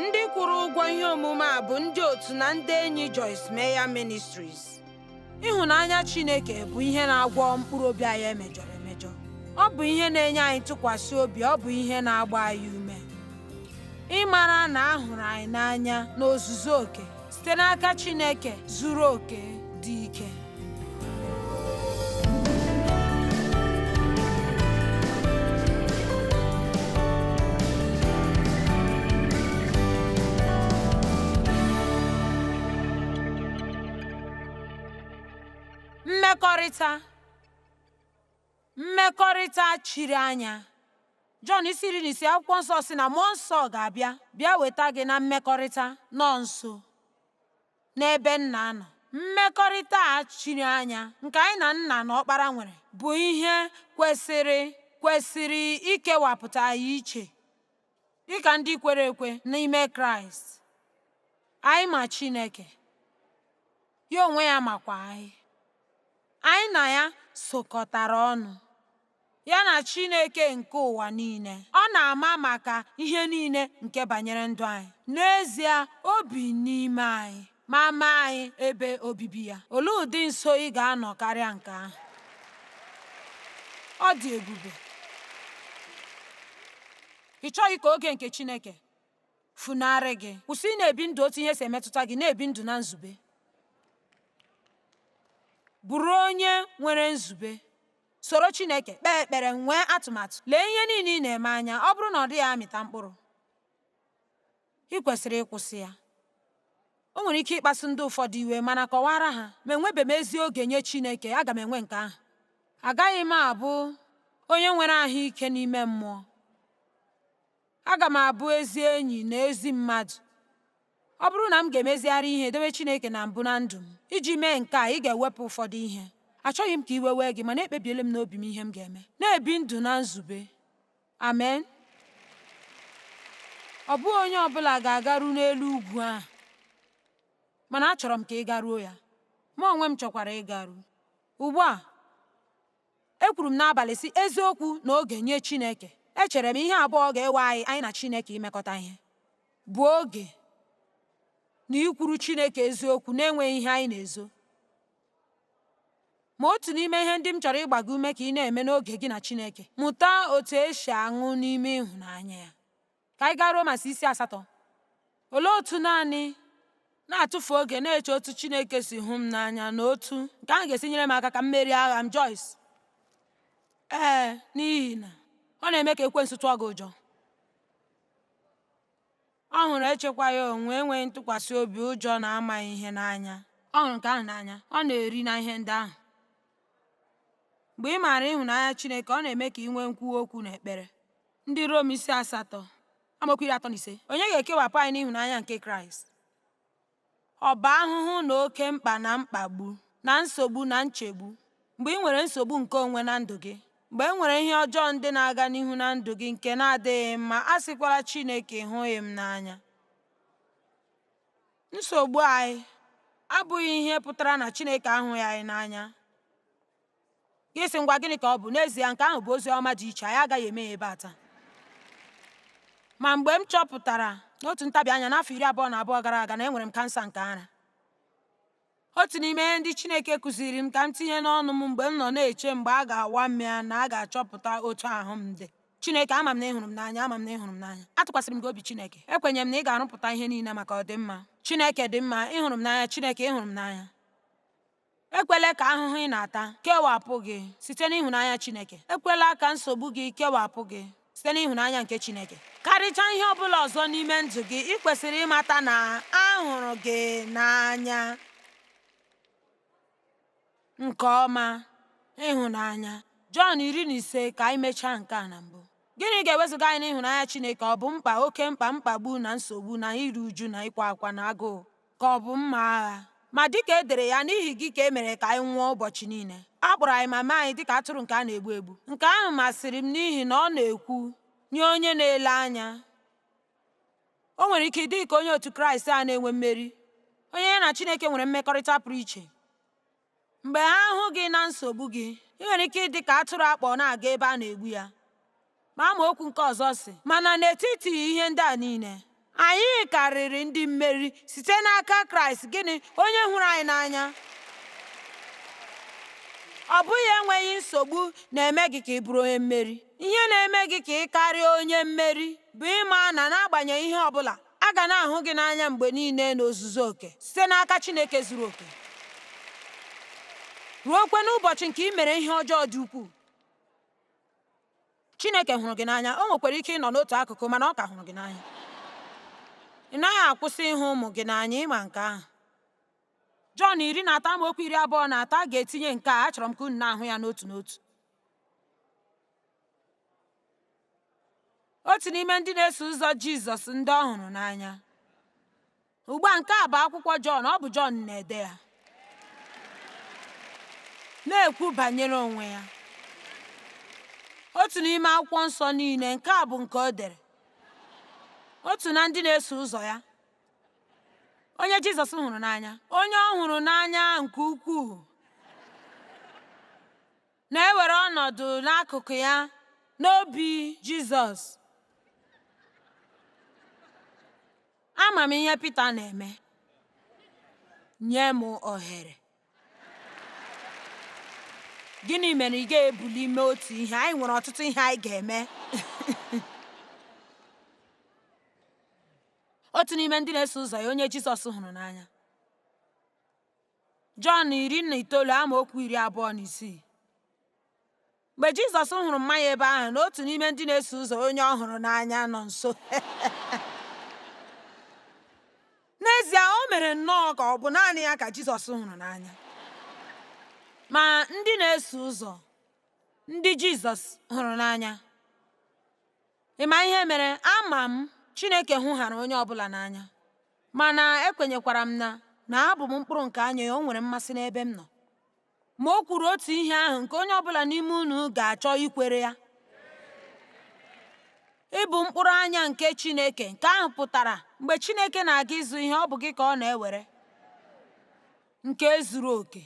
ndị kwụrụ ụgwọ ihe omume a bụ ndị otu na ndị enyi Joyce Meyer Ministries ịhụnanya Chineke bụ ihe na-agwọ mkpụrụ obi anyị e mejọrọ emejọ ọ bụ ihe na-enye anyị ntụkwasị obi ọ bụ ihe na-agba anyị ume ịmara na a hụrụ anyị n'anya n'ozuzu oke site n'aka Chineke zuru oke dị ike mmekọrịta mmekọrịta chiri anya Jọn isi iri na ise akwụkwọ nsọ sị na mmụọ nsọ ga-abịa bịa weta gị na mmekọrịta nọ nso n'ebe nna nọ. Mmekọrịta a chiri anya nke anyị na nna na ọkpara nwere bụ ihe kwesịrị kwesịrị ikewapụta anyị iche dịka ndị kwere ekwe n'ime Kraịst. Anyị ma Chineke, ya onwe ya makwa anyị. Anyị na ya sokọtara ọnụ. ya na Chineke nke ụwa niile. Ọ na-ama maka ihe niile nke banyere ndụ anyị. N'ezie, o bi n'ime anyị ma mee anyị ebe obibi ya. Olee ụdị nso ị ga-anọ karịa nke ahụ? Ọ dị ebube. Ị chọghị ka oge nke Chineke funarị gị. Kwụsị ị na-ebi ndụ otu ihe si emetụta gị, na-ebi ndụ na nzube. Bụrụ onye nwere nzube. Soro Chineke kpee ekpere, nwee atụmatụ, lee ihe niile ị na-eme anya. Ọ bụrụ na ọ dịghị amịta mkpụrụ, ị kwesịrị ịkwụsị ya. O nwere ike ịkpasu ndị ụfọdụ iwe, mana kọwaara ha, ma enwebe m ezi oge nye Chineke, aga m enwe nke ahụ. Agaghị m abụ onye nwere ahụ ike n'ime mmụọ. Aga m abụ ezi enyi na ezi mmadụ. Ọ bụrụ na m ga-emezigharị ihe dowe Chineke na mbụ na ndụ m, iji mee nke a, ị ga-ewepụ ụfọdụ ihe. Achọghị m ka iwe wee gị, mana ekpebiela m n'obi m ihe m ga-eme. Na-ebi ndụ na nzube. Amen. Ọ bụghị onye ọ bụla ga-agaru n'elu ugwu ahụ, mana achọrọ m ka ị garuo ya. Mụ onwe m chọkwara ịgaru. Ugbu a, ekwuru m n'abalị sị eziokwu na oge nye Chineke. Echere m ihe abụọ ga-ewe anyị anyị na Chineke imekọta ihe. bụ oge na ikwuru Chineke eziokwu na-enweghị ihe anyị na-ezo. Ma otu n'ime ihe ndị m chọrọ ịgba gị ume ka ị na-eme n'oge gị na Chineke, mụta otu esi aṅụ n'ime ịhụnanya ya. Ka anyị gaa Romans isi asatọ. Olee otu naanị na-atụfu oge na-eche otu Chineke si hụ m n'anya na otu nke ahụ ga-esi nyere m aka ka m merie agha m? Joyce. Ee, n'ihi na ọ na-eme ka ekwensu tụọ gị ụjọ. Ọ hụrụ echekwaghị onwe, enweghị ntụkwasị obi, ụjọ na amaghị ihe n'anya. Ọ hụrụ nke ahụ n'anya, ọ na-eri na ihe ndị ahụ. Mgbe ị maara ịhụnanya Chineke, ọ na-eme ka ị nwee nkwuwa okwu na ekpere. Ndị Rom isi asatọ amaokwu iri atọ na ise onye ga-ekewapụ anyị n'ịhụnanya nke Kraịst? Ọ bụ ahụhụ na oke mkpa na mkpagbu na nsogbu na nchegbu mgbe ị nwere nsogbu nke onwe na ndụ gị. Mgbe e nwere ihe ọjọọ ndị na-aga n'ihu na ndụ gị nke na-adịghị mma, asịkwala Chineke ị hụghị m n'anya. Nsogbu anyị abụghị ihe pụtara na Chineke ahụghị anyị n'anya. Gị sị ngwa gịnị ka ọ bụ? N'ezie, nke ahụ bụ ozi ọma dị iche, anyị agaghị eme ya ebe a taa. Ma mgbe m chọpụtara n'otu ntabi anya n'afọ iri abụọ na abụọ gara aga na enwere m kansa nke ara, otu n'ime ihe ndị Chineke kụziri m ka m tinye n'ọnụ m mgbe m nọ na-eche mgbe a ga-awa m ya na a ga-achọpụta otu ahụ m dị Chineke ama m na ị hụrụ m n'anya ama m na ị hụrụ m n'anya atụkwasịrị m gị obi Chineke ekwenyere m na ị ga-arụpụta ihe niile maka ọdịmma Chineke dị mma ị hụrụ m n'anya Chineke ị hụrụ m n'anya Ekwela ka ahụhụ ị na-ata kewapụ gị site n'ịhụnanya Chineke. Ekwela ka nsogbu gị kewapụ gị site n'ịhụnanya nke Chineke. Karịchaa ihe ọ bụla ọzọ n'ime ndụ gị, ị kwesịrị ịmata na a hụrụ gị n'anya nke ọma ịhụnanya. Jọn iri na ise ka anyị mechaa nke a na mbụ. Gịnị ga-ewezuga anyị n'ịhụnanya Chineke? Ọ bụ mkpa, oke mkpa, mkpagbu na nsogbu na iru uju na ịkwa akwa na agụụ. ka ọ bụ mma agha. Ma dị ka e dere ya, n'ihi gị ka e mere ka anyị nwụọ ụbọchị niile. A kpọrọ anyị ma mee anyị dị ka atụrụ nke a na-egbu egbu. Nke ahụ masịrị m n'ihi na ọ na-ekwu nye onye na-ele anya. O nwere ike ịdị ka onye otu Kraịst a na-enwe mmeri, onye ya na Chineke nwere mmekọrịta pụrụ iche. Mgbe ha hụ gị na nsogbu gị, ị nwere ike ịdị ka atụrụ a kpọ na-aga ebe a na-egbu ya. Ma amaokwu nke ọzọ sị, mana n'etiti ihe ndị a niile, anyị karịrị ndị mmeri site n'aka Kraịst gịnị onye hụrụ anyị n'anya. Ọ bụghị enweghị nsogbu na-eme gị ka ị bụrụ onye mmeri. Ihe na-eme gị ka ị karịa onye mmeri bụ ịma na n'agbanyeghị ihe ọ bụla, A ga na-ahụ gị n'anya mgbe niile n'ozuzu oke site n'aka Chineke zuru oke, ruokwa n'ụbọchị nke i mere ihe ọjọọ dị ukwuu. Chineke hụrụ gị n'anya. O nwekwara ike ịnọ n'otu akụkụ, mana ọ ka hụrụ gị n'anya. Ị naghị akwụsị ịhụ ụmụ gị n'anya, ị ma nke ahụ. Jọn iri na atọ amaokwu iri abụọ na atọ a ga-etinye nke a, achọrọ m ka unu na-ahụ ya n'otu n'otu. otu n'ime ndị na-eso ụzọ jizọs ndị ọ hụrụ n'anya ugbu a nke a bụ akwụkwọ jọn ọ bụ jọn na-ede ya na-ekwu banyere onwe ya otu n'ime akwụkwọ nsọ niile nke a bụ nke o dere otu na ndị na-eso ụzọ ya onye jizọs hụrụ n'anya onye ọ hụrụ n'anya nke ukwuu na-ewere ọnọdụ n'akụkụ ya n'obi Jizọs. Ama m ihe Pita na-eme. Nye m ohere. Gịnị mere ị ga-ebuli mee otu ihe? Anyị nwere ọtụtụ ihe anyị ga-eme. otu n'ime ndị na-eso ụzọ ya onye Jizọs hụrụ n'anya Jọn iri na itoolu amaokwu iri abụọ na isii mgbe Jizọs hụrụ mma ya ebe ahụ na otu n'ime ndị na-eso ụzọ onye ọ hụrụ n'anya nọ nso n'ezie o mere nnọọ ka ọ bụ naanị ya ka Jizọs hụrụ n'anya ma ndị na-eso ụzọ ndị Jizọs hụrụ n'anya ị ma ihe mere ama m Chineke hụhara onye ọ bụla n'anya Mana ekwenyekwara m na na abụ m mkpụrụ nke anya ya, o nwere mmasị n'ebe m nọ. Ma o kwuru otu ihe ahụ nke onye ọbụla n'ime unu ga-achọ ikwere ya. Ịbụ mkpụrụ anya nke Chineke, nke ahụ pụtara mgbe Chineke na-aga ịzụ ihe, ọ bụ gị ka ọ na-ewere nke zuru oke.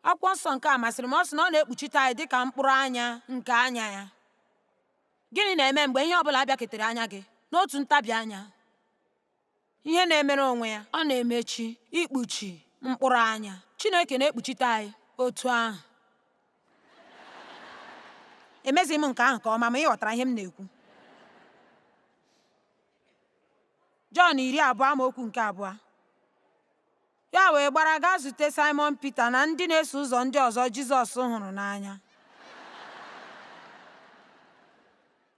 Akwụkwọ nsọ nke a masịrị m, ọ sị na ọ na-ekpuchite anyị dịka mkpụrụ anya nke anya ya. Gịnị na-eme mgbe ihe ọ bụla bịaketere anya gị n'otu ntabi anya? Ihe na-emere onwe ya, ọ na-emechi, ikpuchi, mkpụrụ anya. Chineke na-ekpuchite anyị otu ahụ. Emezighị m nke ahụ nke ọma ma ị ghọtara ihe m na-ekwu. Jọn iri abụọ amaokwu nke abụọ Ya wee gbara gaa zute Saịmọn Pita na ndị na-eso ụzọ ndị ọzọ Jizọs hụrụ n'anya.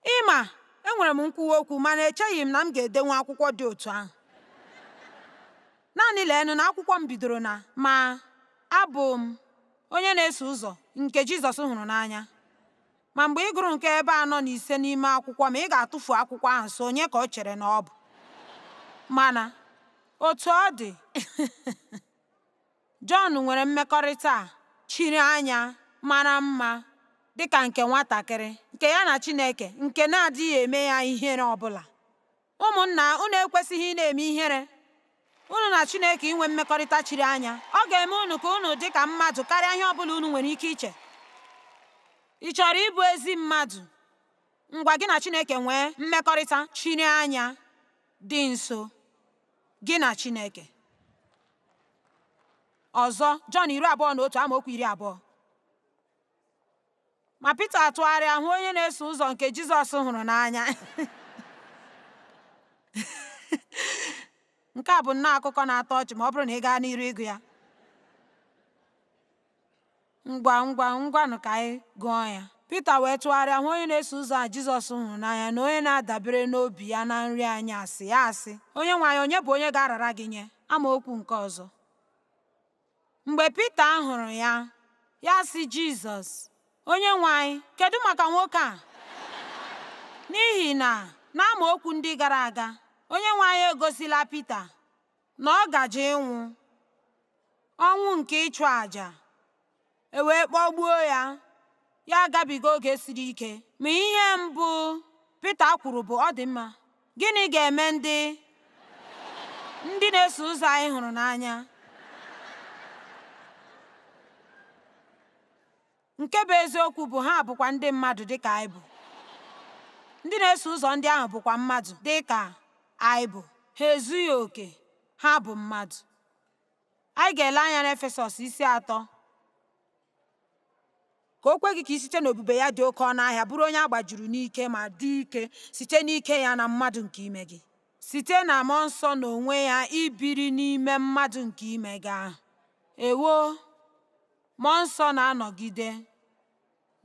Ị ma, enwere m nkwuwa okwu mana echeghị m na m ga-edenwu akwụkwọ dị otu ahụ. Naanị leenụ na akwụkwọ m bidoro na ma abụ m onye na-eso ụzọ nke Jizọs hụrụ n'anya. Ma mgbe ị gụrụ nke ebe anọ na ise n'ime akwụkwọ m a, ị ga-atụfu akwụkwọ ahụ sị onye ka o chere na ọ bụ. Mana, otu ọ dị, Jọn nwere mmekọrịta a chiri anya mara mma dị ka nke nwatakịrị nke ya na Chineke nke na-adịghị eme ya ihere ọ bụla. Ụmụnna, unu ekwesịghị ịna-eme ihere. Unu na Chineke inwe mmekọrịta chiri anya, ọ ga-eme unu ka unu dị ka mmadụ karịa ihe ọ bụla unu nwere ike iche. Ị chọrọ ịbụ ezi mmadụ? Ngwa gị na Chineke nwee mmekọrịta chiri anya dị nso, gị na Chineke. Ọzọ, Jọn iri abụọ na otu amaokwu iri abụọ. ma Pita atụgharịa hụ onye na-eso ụzọ nke Jizọs hụrụ n'anya nke a bụ nnọọ akụkọ na-atọ ọchị ma ọ bụrụ na ị gaa n'iru ịgụ ya ngwa ngwanụ ka anyị gụọ ya Pita wee tụgharịa hụ onye na-eso ụzọ a Jizọs hụrụ n'anya na onye na-adabere n'obi ya na nri anyasị ya asị onyenwe anyị onye bụ onye ga-arara gị nye amaokwu nke ọzọ Mgbe Pita hụrụ ya, ya sị Jizọs, Onyenwe anyị, kedu maka nwoke a? N'ihi na n'amaokwu ndị gara aga, Onyenwe anyị egosila Pita na ọ gaje ịnwụ ọnwụ nke ịchụ àjà. e wee kpọgbuo ya, ya agabiga oge siri ike. Ma ihe mbụ Pita kwuru bụ, Ọ dị mma, gịnị ga-eme ndị ndị na-eso ụzọ anyị hụrụ n'anya? Nke bụ eziokwu bụ ha bụkwa ndị mmadụ dị ka anyị bụ. Ndị na-eso ụzọ ndị ahụ bụkwa mmadụ dị ka anyị bụ. Ha ezughị oke, ha bụ mmadụ. Anyị ga-ele anya n'Efesọs isi atọ ka o kwe gị ka i site n'ebube ya dị oke ọnụ ahịa bụrụ onye a gbajuru n'ike ma dị ike site n'ike ya na mmadụ nke ime gị site na mmụọ nsọ na onwe ya ibiri n'ime mmadụ nke ime gị ahụ ewo mmụọ nsọ na-anọgide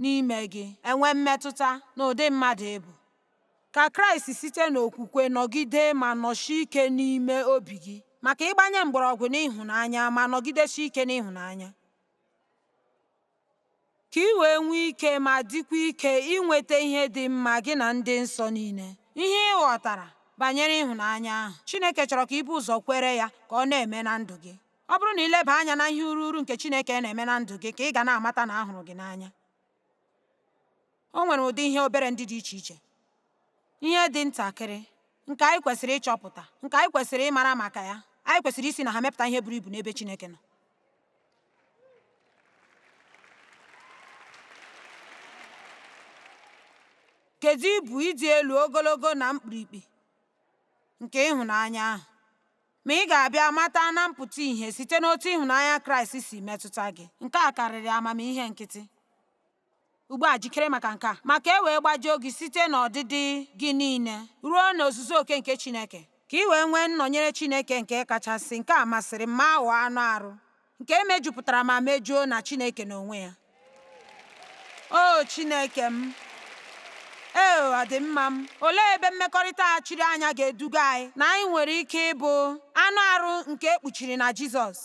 n'ime gị enwe mmetụta n'ụdị mmadụ ị bụ. Ka Kraịst site n'okwukwe nọgide ma nọsie ike n'ime obi gị ma ka ị gbanye mgbọrọgwụ n'ịhụnanya ma nọgidesie ike n'ịhụnanya. Ka ị wee nwee ike ma dịkwa ike inweta ihe dị mma gị na ndị nsọ niile. Ihe ị ghọtara banyere ịhụnanya ahụ Chineke chọrọ ka i bu ụzọ kwere ya ka ọ na-eme na ndụ gị. Ọ bụrụ na ị leba anya na ihe urughuru nke Chineke na-eme na ndụ gị ka ị ga na-amata na a hụrụ gị n'anya. O nwere ụdị ihe obere ndị dị iche iche, ihe dị ntakịrị nke anyị kwesịrị ịchọpụta, nke anyị kwesịrị ịmara maka ya, anyị kwesịrị isi na ha mepụta ihe buru ibu n'ebe Chineke nọ. Kedu ibu ịdị elu ogologo na mkpirikpi nke ịhụnanya ahụ? Ma ị ga-abịa mata na mpụta ihe site n'otu ịhụnanya Kraịst si metụta gị. Nke a karịrị amamihe nkịtị. Ugbu a jikere maka nke a, ma ka e wee gbajuo gị site n'ọdịdị gị niile ruo n'ozuzu oke nke Chineke, ka ị wee nwee nnọnyere Chineke nke kachasị, nke a masịrị m, ma ghọọ anụ arụ. nke e mejupụtara ma mejuo na Chineke n'onwe ya. O Chineke m, ee ọdịmma m, olee ebe mmekọrịta a chiri anya ga-eduga anyị na anyị nwere ike ịbụ anụ arụ nke e kpuchiri na Jizọs?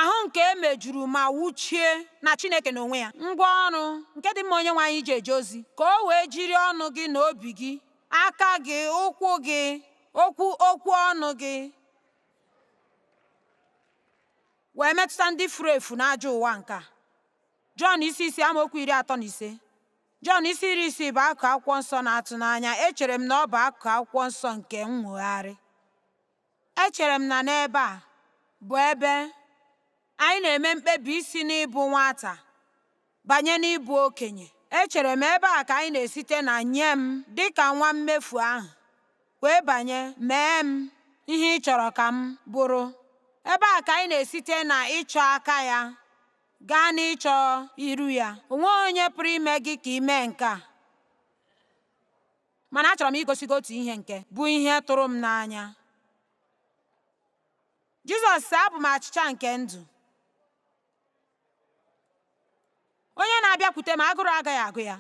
Ahụ nke e mejuru ma wuchie na Chineke n'onwe ya. Ngwa ọrụ nke dị mma Onyenwe anyị iji eje ozi. Ka o wee jiri ọnụ gị na obi gị, aka gị, ụkwụ gị, okwu ọnụ gị wee metụta ndị furu efu n'ajọ ụwa nke a. Jọn isi isii amaokwu iri atọ na ise Jọn isi iri isii bụ akụkụ akwụkwọ nsọ na-atụ n'anya echere m na ọ bụ akụkụ akwụkwọ nsọ nke nnwogharị Echere m na n'ebe a bụ ebe anyị na-eme mkpebi isi n'ịbụ nwata banye n'ịbụ okenye. Echere m ebe a ka anyị na-esite na nye m dị ka nwa mmefu ahụ wee banye mee m ihe ị chọrọ ka m bụrụ. Ebe a ka anyị na-esite na ịchọ aka ya gaa n'ịchọ iru ya. O nweghị onye pụrụ ime gị ka i mee nke a. Mana achọrọ m igosi gị otu ihe nke bụ ihe tụrụ m n'anya. Jizọs sị, Abụ m achịcha nke ndụ. Onye na-abịakwute m agụrụ agaghị agụ ya.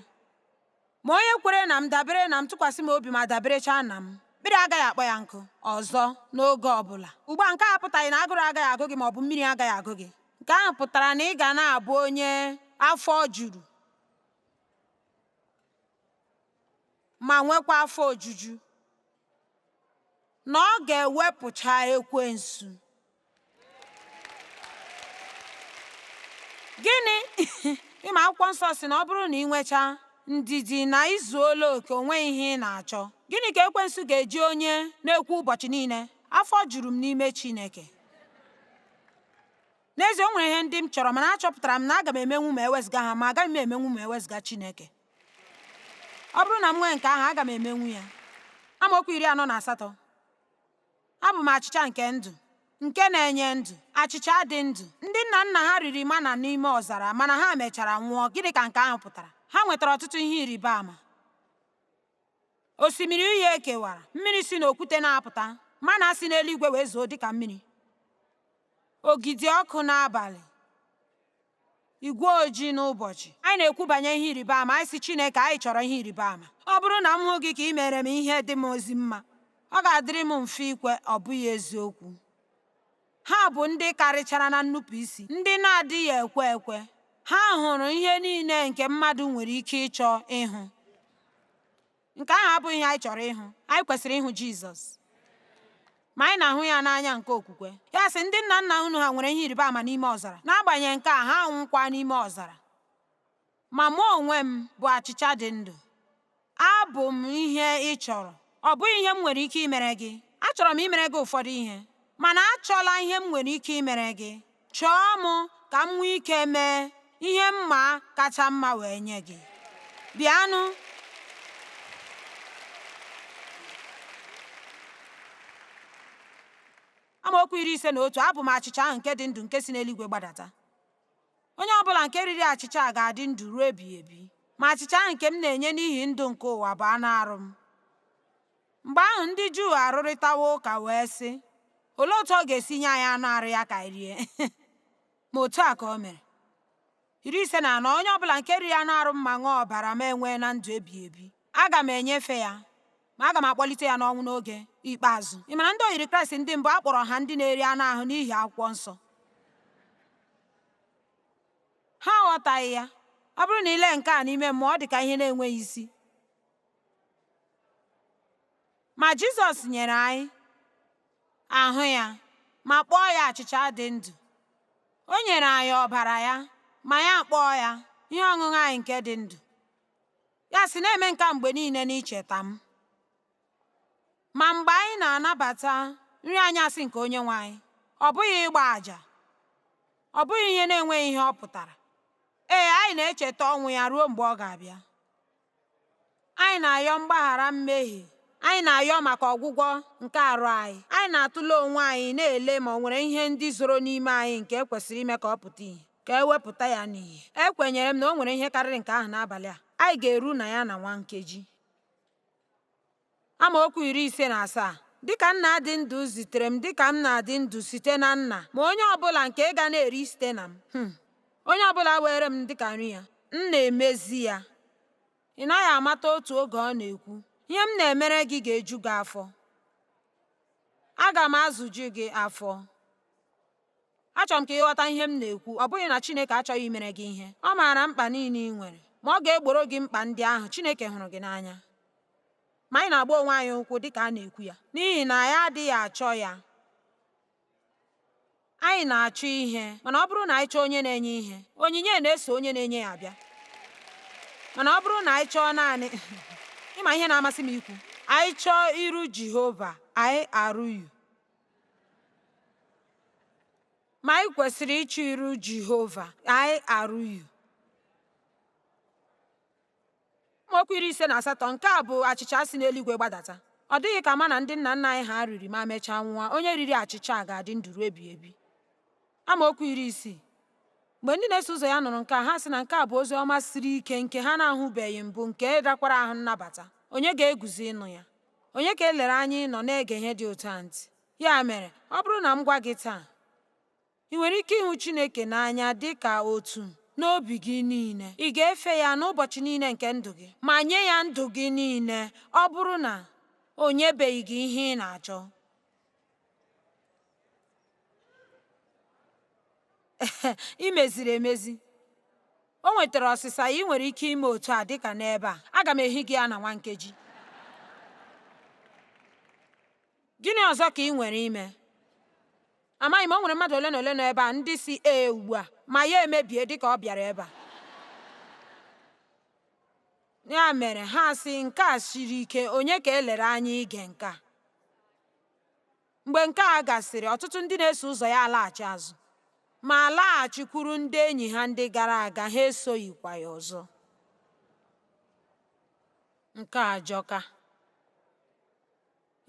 Ma onye kwere na m, dabere na m, tụkwasị m obi ma daberechaa na m, mmiri agaghị akpọ ya nkụ ọzọ n'oge ọ bụla. Ugbu a nke a apụtaghị na agụrụ agaghị agụ gị ma ọ bụ mmiri agaghị agụ gị. Nke ahụ pụtara na ị ga na-abụ onye afọ juru. ma nwekwa afọ ojuju na ọ ga-ewepụcha ekwensu gịnị ị ma akwụkwọ nsọ sị na ọ bụrụ na ị nwechaa ndidi na i zuola oke o nweghị ihe ị na-achọ gịnị ka ekwensu ga-eji onye na-ekwu ụbọchị niile afọ juru m n'ime chineke n'ezie o nwere ihe ndị m chọrọ mana achọpụtara m na aga m emenwu ma ewezụga ha ma agaghị m emenwu ma ewezụga chineke ọ bụrụ na m nwee nke ahụ aga m emenwu ya amaokwu iri anọ na asatọ abụ m achịcha nke ndụ nke na-enye ndụ achịcha dị ndụ ndị nna nna ha riri mana n'ime ọzara mana ha mechara nwụọ gịnị ka nke ahụ pụtara ha nwetara ọtụtụ ihe ịrịba ama osimiri uhie e kewara mmiri si n'okwute na-apụta mana si n'eluigwe wee zoo dịka mmiri ogidi ọkụ n'abalị igwe ojii n'ụbọchị anyị na-ekwu banyere ihe ịrịba ama anyị si Chineke anyị chọrọ ihe ịrịba ama ọ bụrụ na m hụ gị ka ị mere m ihe dị m ezi mma ọ ga-adịrị m mfe ikwe ọ bụghị eziokwu ha bụ ndị karịchara na nnupụisi ndị na-adịghị ekwe ekwe ha hụrụ ihe niile nke mmadụ nwere ike ịchọ ịhụ Nke ahụ abụghị ihe anyị chọrọ ịhụ. Anyị kwesịrị ịhụ Jizọs. Ma anyị na-ahụ ya n'anya nke okwukwe. Ya sị, Ndị nna nna unu ha nwere ihe ịrịba ama n'ime ọzara. N'agbanyeghị nke a, ha anwụkwa n'ime ọzara. Ma mụ onwe m bụ achịcha dị ndụ. Abụ m ihe ị chọrọ. Ọ bụghị ihe m nwere ike imere gị. Achọrọ m imere gị ụfọdụ ihe, mana achọla ihe m nwere ike imere gị. Chọọ m ka m nwee ike mee ihe mma kacha mma wee nye gị. Bịanụ. Amaokwu iri ise na otu abụ m achịcha ahụ nke dị ndụ nke si n'eluigwe gbadata. Onye ọ bụla nke riri achịcha a ga-adị ndụ ruo ebighị ebi. Ma achịcha ahụ nke m na-enye n'ihi ndụ nke ụwa bụ anụ arụ m. Mgbe ahụ ndị Juu arụrịtawo ụka wee sị, Olee otu ọ ga-esi nye anyị anụ arụ ya ka anyị rie? Ma otu a ka o mere. Iri ise na anọ onye ọbụla nke riri anụ arụ m ma ṅụọ ọbara m enweena ndụ ebighị ebi. Aga m enyefe ya, ma aga m akpọlite ya n'ọnwụ n'oge ikpeazụ. Ị mara ndị oyiri Kraịst ndị mbụ a kpọrọ ha ndị na-eri anụ ahụ n'ihi akwụkwọ nsọ. Ha aghọtaghị ya. Ọ bụrụ na i le nke a n'ime mmụọ, ọ dị ka ihe na-enweghị isi. Ma Jizọs nyere anyị ahụ ya ma kpọọ ya achịcha dị ndụ. O nyere anyị ọbara ya ma ya akpọọ ya ihe ọṅụṅụ anyị nke dị ndụ. Ya sị, Na-eme nke a mgbe niile n'icheta m. Ma mgbe anyị na-anabata nri anyasị nke Onyenwe anyị, ọ bụghị ịgba àjà, ọ bụghị ihe na-enweghị ihe ọ pụtara. Ee, anyị na-echeta ọnwụ ya ruo mgbe ọ ga-abịa. Anyị na-ayọ mgbaghara mmehie. Anyị na-ayọ maka ọgwụgwọ nke arụ anyị. Anyị na-atụle onwe anyị na-ele ma o nwere ihe ndị zoro n'ime anyị nke e kwesịrị ime ka ọ pụta ìhè, ka e wepụta ya n'ìhè. Ekwenyere m na o nwere ihe karịrị nke ahụ n'abalị a. Anyị ga-eru na ya na nwa nkeji. Amaokwu iri ise na asaa Dịka Nna dị ndụ zitere m, dịka m na-adị ndụ site na Nna, ma onye ọbụla nke ga na-eri site na m, hmm, onye ọbụla weere m dịka nri ya, m na-emezi ya. Ị naghị amata otu oge ọ na-ekwu, ihe m na-emere gị ga-eju gị afọ. Aga m azụju gị afọ. Achọrọ m ka ị ghọta ihe m na-ekwu. Ọ bụghị na Chineke achọghị imere gị ihe. Ọ maara mkpa niile ị nwere, ma ọ ga-egboro gị mkpa ndị ahụ. Chineke hụrụ gị n'anya. Ma anyị na-agba onwe anyị ụkwụ dị ka a na-ekwu ya n'ihi na anyị adịghị achọ ya. Anyị na-achọ ihe, mana ọ bụrụ na anyị chọọ onye na-enye ihe, onyinye na-eso onye na-enye ya abịa. Mana ọ bụrụ na anyị chọọ naanị ịma ihe na-amasị m ikwu, anyị chọọ iru Jehova, I-R-U. Ma anyị kwesịrị ịchọ iru Jehova, I-R-U. Amaokwu iri ise na asatọ nke a bụ achịcha si n'eluigwe gbadata. Ọ dịghị ka mana ndị nna nna anyị ha riri ma mechaa nwụọ, onye riri achịcha a ga-adị ndụ ruo ebighị ebi. Amaokwu iri isii Mgbe ndị na-eso ụzọ ya nụrụ nke a, ha sị na nke a bụ ozi ọma siri ike nke ha na-ahụbeghị mbụ nke rakwara ahụ nnabata. Onye ga-eguzo ịnụ ya? Onye ka elere anya ịnọ na-ege ihe dị otu a ntị? Ya mere, ọ bụrụ na m gwa gị taa, ị nwere ike ịhụ Chineke n'anya dị ka otu n'obi gị niile. Ị ga-efe ya n'ụbọchị niile nke ndụ gị ma nye ya ndụ gị niile ọ bụrụ na o nyebeghị gị ihe ị na-achọ. i meziri emezi o nwetara ọsịsa ị nwere ike ime otu a dịka n'ebe a aga m ehi gị ya na nwa nkeji gịnị ọzọ ka ị nwere ime amaghị m o nwere mmadụ ole na ole nọ ebe a ndị sị ee ugbu a ma ya emebie dịka ọ bịara ebe a ya mere ha sị nke a siri ike onye ka elere anya ige nke a Mgbe nke a gasịrị, ọtụtụ ndị na-eso ụzọ ya alaghachi azụ ma laghachikwuru ndị enyi ha ndị gara aga, ha esoghịkwa ya ọzọ. Nke a ajọka.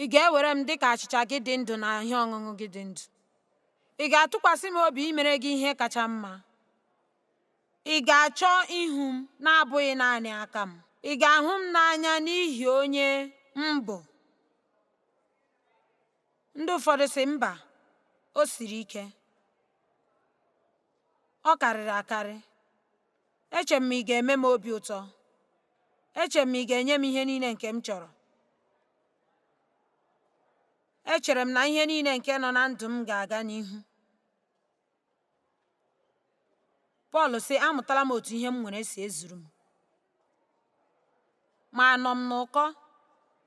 Ị ga-ewere m dị ka achịcha gị dị ndụ na ihe ọṅụṅụ gị dị ndụ? Ị ga-atụkwasị m obi imere gị ihe kacha mma? Ị ga-achọ ihu m na-abụghị naanị aka m? Ị ga-ahụ m n'anya n'ihi onye m bụ? ndị ụfọdụ sị mba o siri ike ọ karịrị akarị eche m ị ga-eme m obi ụtọ eche m ị ga-enye m ihe niile nke m chọrọ echere m na ihe niile nke nọ na ndụ m ga-aga n'ihu Pọl sị, Amụtala m otu ihe m nwere si ezuru m, ma anọ m n'ụkọ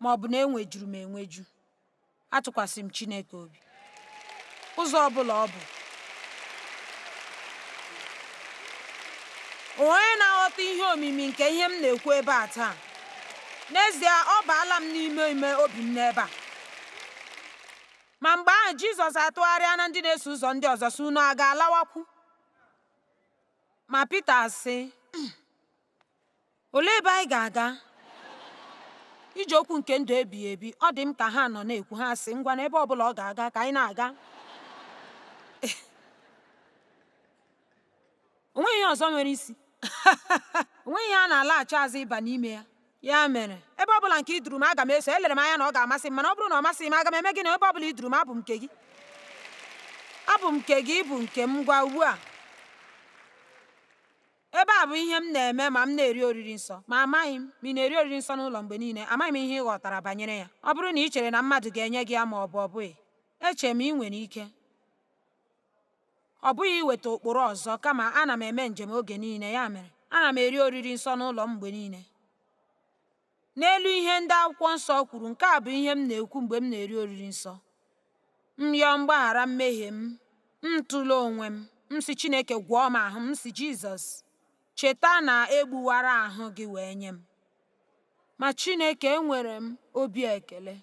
ma ọ bụ na enwejuru m enweju, atụkwasị m Chineke obi. Ụzọ ọ bụla ọ bụ, onye na-aghọta ihe omimi nke ihe m na-ekwu ebe a taa n'ezie ọ baala m n'ime ime obi m n'ebe a Ma mgbe ahụ Jizọs atụgharịa na ndị na-eso ụzọ ndị ọzọ sị unu a ga-alawakwu ma Pita asị hmm, olee ebe anyị ga-aga i ji okwu nke ndụ ebighị ebi ọ dị m ka ha nọ na-ekwu ha sị ngwa na ebe ọ bụla ọ ga-aga ka anyị na-aga o nweghị ihe ọzọ nwere isi o nweghị ihe a na-alaghachi azụ ịba n'ime ya ya mere ebe ọ bụla nke i duru m aga m eso elere m anya na ọ ga-amasị m mana ọ bụrụ na ọ masịghị m aga m eme gịnị ebe ọ bụla i duru m abụ m nke gị abụ m nke gị ị bụ nke m ngwa ugbu a ebe a bụ ihe m na-eme ma m na-eri oriri nsọ ma amaghị m ma ị na-eri oriri nsọ n'ụlọ mgbe niile amaghị m ihe ị ghọtara banyere ya ọ bụrụ na ị chere na mmadụ ga-enye gị ya ma ọ bụ ọ bụghị eche m ị nwere ike Ọ bụghị iweta ụkpụrụ ọzọ, kama ana m eme njem oge niile, ya mere, ana m eri oriri nsọ n'ụlọ m mgbe niile. N'elu ihe ndị akwụkwọ nsọ kwuru, nke a bụ ihe m na-ekwu mgbe m na-eri oriri nsọ. M yọọ mgbaghara mmehie m, m tụlee onwe m, m sị Chineke gwọọ m ahụ, m sị Jizọs cheta na e gbuwara ahụ gị wee nye m. Ma Chineke enwere m obi ekele.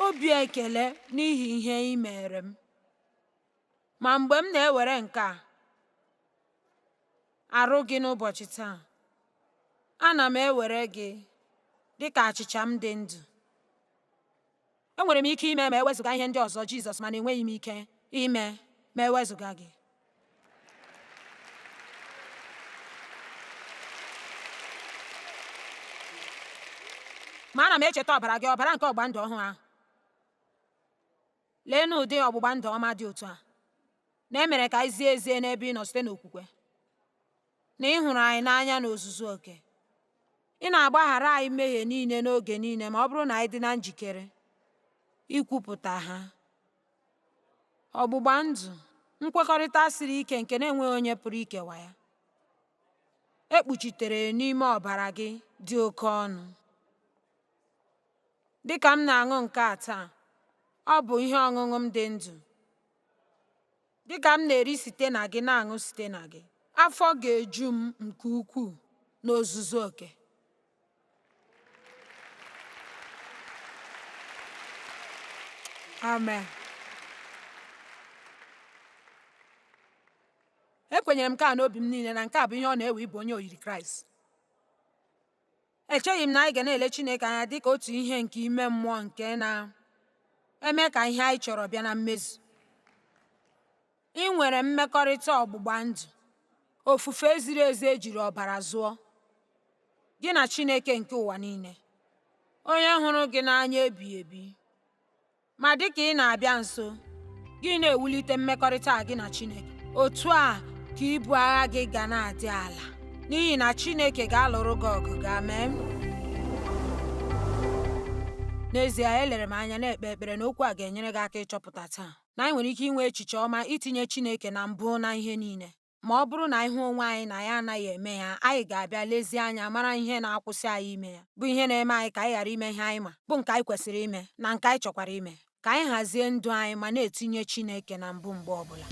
obi ekele n'ihi ihe ị mere m ma mgbe m na-ewere nke a arụ gị n'ụbọchị taa ana m ewere gị dị ka achịcha m dị ndụ Enwere m ike ime ma ewezụga ihe ndị ọzọ, Jizọs, mana enweghị m ike ime ma ewezụga gị. Ma ana m echeta ọbara gị, ọbara nke ọgbụgba ndụ ọhụụ ahụ. Leenụ ụdị ọgbụgba ndụ ọma dị otu a, na e mere ka anyị zie ezie n'ebe ị nọ site n'okwukwe. na ị hụrụ anyị n'anya n'ozuzu oke. Ị na-agbaghara anyị mmehie niile n'oge niile ma ọ bụrụ na anyị dị na njikere ikwupụta ha. Ọgbụgba ndụ, nkwekọrịta siri ike nke na-enweghị onye pụrụ ikewa ya, e kpuchitere n'ime ọbara gị dị oke ọnụ. Dị ka m na-aṅụ nke a taa, ọ bụ ihe ọṅụṅụ m dị ndụ. Dịka m na-eri site na gị na-aṅụ site na gị, afọ ga-eju m nke ukwuu n'ozuzu oke. Amen. Ekwenyere m nke a n'obi m niile na nke a bụ ihe ọ na-ewe ịbụ onye oyiri Kraịst. Echeghị m na anyị ga na-ele Chineke anya dị ka otu ihe nke ime mmụọ nke na-eme ka ihe anyị chọrọ bịa na mmezu. I nwere mmekọrịta ọgbụgba ndụ, ofufe ziri ezi e jiri ọbara zụọ, gị na Chineke nke ụwa niile, onye hụrụ gị n'anya ebighị ebi. Ma dị ka ị na-abịa nso, gị na-ewulite mmekọrịta gị na Chineke. Otu a ka ibu agha gị ga na-adị ala, n'ihi na Chineke ga-alụrụ gị ọgụ gị. Amen. N'ezie, elere m anya na-ekpe ekpere na okwu a ga-enyere gị aka ịchọpụta taa na anyị nwere ike inwe echiche ọma itinye Chineke na mbụ na ihe niile. ma ọ bụrụ na anyị hụ onwe anyị na anyị anaghị eme ya, anyị ga-abịa lezie anya mara ihe na-akwụsị anyị ime ya, bụ ihe na-eme anyị ka anyị ghara ime ihe anyị ma, bụ nke anyị kwesịrị ime, na nke anyị chọkwara ime. Ka anyị hazie ndụ anyị ma na-etinye Chineke na mbụ mgbe ọ bụla.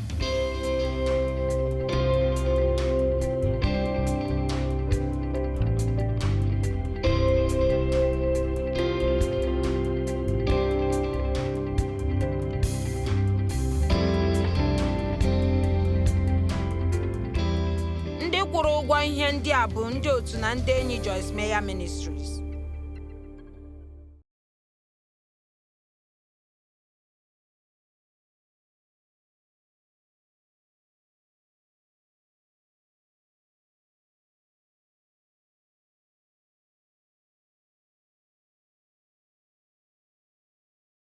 ndị kwụrụ ụgwọ ihe ndị a bụ ndị otu na ndị enyi Joyce Meyer Ministries